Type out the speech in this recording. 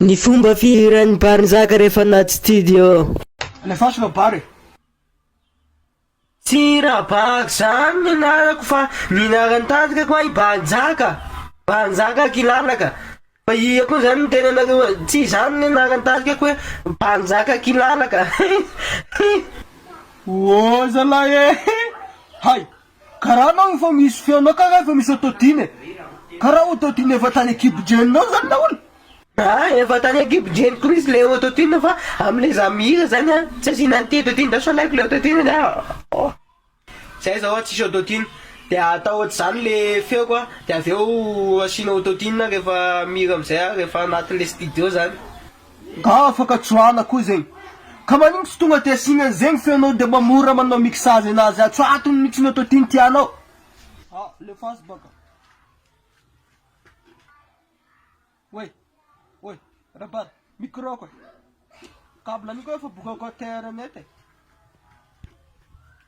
Ny fomba fihiran'ny bar nizaka rehefa anaty studio. Alefaso la bar e. Tsy Rabary zany ny anarako fa ny anaran'ny tandrikako ahy Bar Njaka, Bar Njaka Akilalaka, fa iha koa zany ny tenanareo a, tsy izany ny anaran'ny tandrikako hoe Bar Njaka Akilalaka, hih hih. Oa zalahy e! Hay! Karaha anao efa misy feonao ka efa misy autotune e! Karaha autotune efa tany ankibo-drenonao zany nahoana? Aa efa tany ankibo-dreniko mihintsy ilay autotune fa amin'ilay za mihira zany an tsy asiana an'ity autotune ity fa sao alaiko ilay autotune ny ahy ohh. Zay zao an tsisy autotune dia atao ohatr'izany ilay feoko an dia avy eo asiana autotune rehefa mihira amin'izay aho rehefa anatin'ilay studio zany. Nga afaka tsoahana koa zegny. Ka manigno tsy tonga de asiagna an'zegny feonao de mba mora manao mixage anazy atsy fa atony mitsy ny autotune tianao. Ah le fast baka. Oay oay rabary micro ko e. Cable an'io ko efa bokaka terre net e.